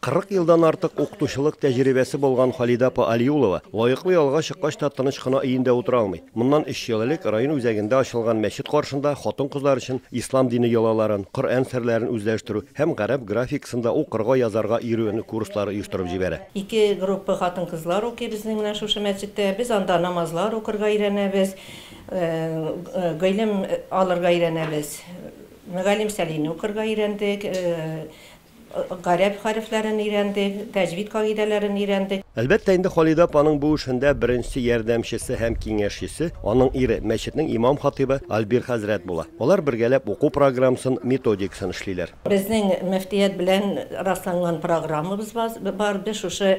40 елдан артык укытучылык тәҗрибәсе булган Халидә апа Алиулова лаеклы ялга чыккач та тыныч кына өендә утыра алмый. Моннан өч ел элек район үзәгендә ачылган мәчет каршында хатын-кызлар өчен ислам дине йолаларын, Коръән серләрен үзләштерү һәм гарәп графикасын да укырга, язарга өйрәнү курслары оештырып җибәрә. Ике группа хатын-кызлар укый безнең менә шушы мәчеттә. Без анда намазлар укырга өйрәнәбез, гыйлем алырга өйрәнәбез. Мөгаллим Сәлине укырга өйрәндек. Гарәп хәрефләрен өйрәнде, тәҗвид кагыйдәләрен өйрәнде. Әлбәттә инде, Халидә апаның бу эшендә беренче ярдәмчесе һәм киңәшчесе, аның ире, мәчетнең имам-хатыйбы Альбир хәзрәт була. Алар бергәләп уку программасын, методикасын эшлиләр. Безнең мөфтият белән расланган программабыз бар, без шушы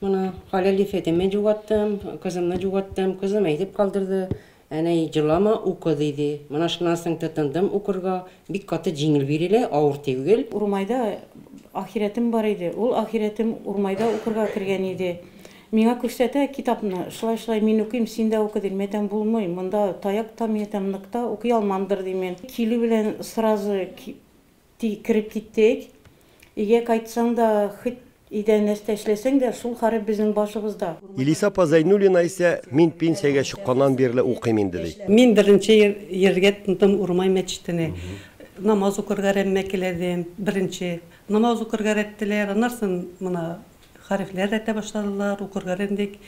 Моны хәләл ясәдем, мин җуаттым, кызымны җуаттым, кызым әйтеп калдырды, Әнәй, җылама, укы, диде. Менә шуннан соң тотындым укырга, бик каты җиңел бирелә, авыр тиүгел. Урмайда ахирәтем бар иде, ул ахирәтем Урмайда укырга кергән иде. Миңа күрсәтә китапны, шулай-шулай мин укыйм, син дә укы, ди. Мин әйтәм, булмый, монда таяк та, мин әйтәм, нык та укый алмамдыр, дим мин. Килү белән сразу Ди, кереп киттек. Өйгә кайтсаң да, хоть өйдә нәрсә эшләсәң дә, шул харап безнең башыбызда. Илиса апа Зәйнуллина исә, Мин пенсиягә чыкканнан бирле укыйм инде, ди. Мин беренче ел йөрергә тотындым Урмай мәчетенә. Намаз укырга рәммә келәдем, беренче. Намаз укырга рәттеләр, аннарсын мына хәрефләр рәтә башладылар, укырга рәндек.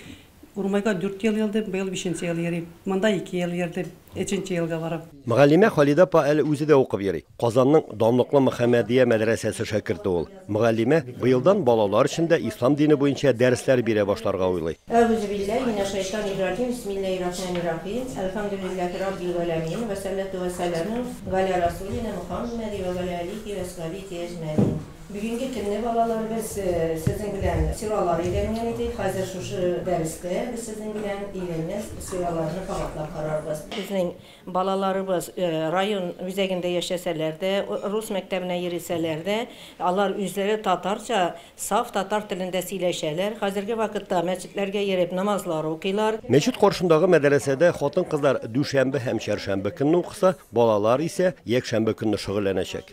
Урмайга дүрт ел йөрдем, быел бишенче ел йөрим. Монда ике ел йөрдем, өченче елга барам. Мөгаллимә Халидә апа әле үзе дә укып йөри. Казанның данлыклы Мөхәммәдия мәдрәсәсе шәкерте ул. Мөгаллимә быелдан балалар өчен дә ислам дине буенча дәресләр бирә башларга уйлый. Әгузубилляһи минәшшәйтанирраҗим, бисмиллаһиррахманиррахим, әлхәмдүлилләһи раббил галәмиин, вәссәлләтү вәссәләмү галә расулинә Мөхәммәди вә галә әлиһи вә асхабихи әҗмәгин. Бүгенге көнне балаларыбыз сезнең белән сиралар өйрәнгән иде. Хәзер шушы дәрестә без сезнең белән өйрәнгән сираларны кабатлап карарбыз. Безнең балаларыбыз район үзәгендә яшәсәләр дә, рус мәктәбенә йөрисәләр дә, алар үзләре татарча, саф татар телендә сөйләшәләр. Хәзерге вакытта мәчетләргә йөреп намазлар укыйлар. Мәчет каршындагы мәдәрәсәдә хатын-кызлар дүшәмбе һәм чәршәмбе көнне укыса, балалар исә якшәмбе көнне шөгыльләнәчәк.